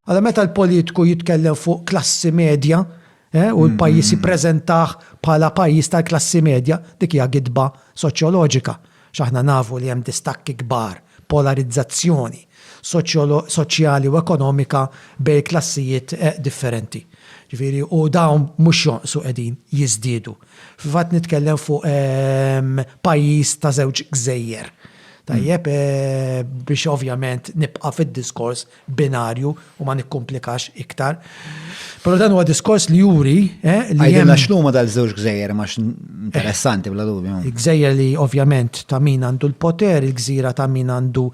Għala meta l-politiku jitkellem fuq klassi medja, eh, u l-pajjiż mm-hmm. jippreżentah bħala pajjiż tal-klassi medja, dik hija gidba soċjoloġika. X'aħna nafu li hemm distakki kbar, polarizzazzjoni soċjali u ekonomika bej klassijiet eh, differenti. Ġifieri u dawn mhux jonqsu qegħdin jiżdiedu. Fil-fatt nitkellem fuq ehm, pajjiż ta' żewġ gżejjer Tajjeb, biex ovvjament nibqa' fid-diskors binarju u ma nikkumplikax iktar. Però dan huwa diskors li juri li. Għidilna x'numa dal-żewġ gżejjer ma interessanti bla dubju. Gżejjer li ovvjament ta' min għandu l-poter, il-gżira ta' min għandu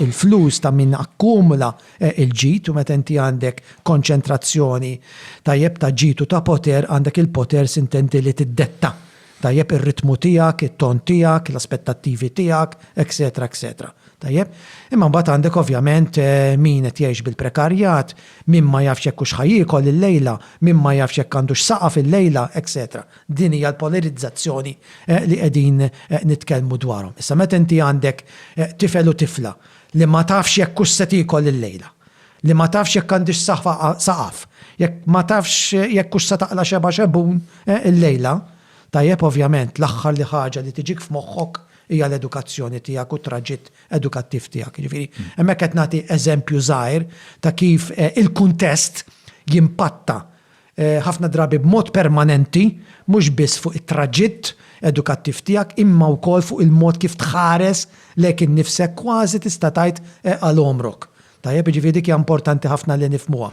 l-flus, ta' min akkumula l-ġid u meta inti għandek konċentrazzjoni tajjeb ta' ġid u ta' poter għandek il-poter sintendi li tiddetta Tajjeb, ir-ritmu tiegħek, it-ton tiegħek, l-aspettattivi tiegħek, eċċetera eċċetera. Tajjeb? Imma mbagħad għandek ovvjament min qed jgħix bil-prekarjat, min ma jafx jekk hux ħa jiekol illejla, min ma jafx jekk għandux saqaf illejla, eċċetera. Din hija l-polarizzazzjoni li qegħdin nitkellmu dwarhom. Issa meta inti għandek tifel u tifla li ma tafx jekk hux se tiekol illejla, Li ma tafx jekk għandhiex saqaf, jekk ma tafx jekk hux se taqla' xebgħa xebgħun illejla. Tajjeb, ovvjament, l-aħħar li ħaġa li tiġik f'moħħok hija l-edukazzjoni tiegħek u t-traġitt edukattiv tiegħek. Jiġifieri, hemmhekk qed nagħti eżempju żgħir ta' kif il-kuntest jimpatta ħafna drabi b'mod permanenti mhux biss fuq it-traġitt edukattiv tiegħek imma wkoll fuq il-mod kif tħares lejk innifsek kważi tista' tgħid għal għomrok. Tajjeb, jiġifieri dik hija importanti ħafna li nifhmuha.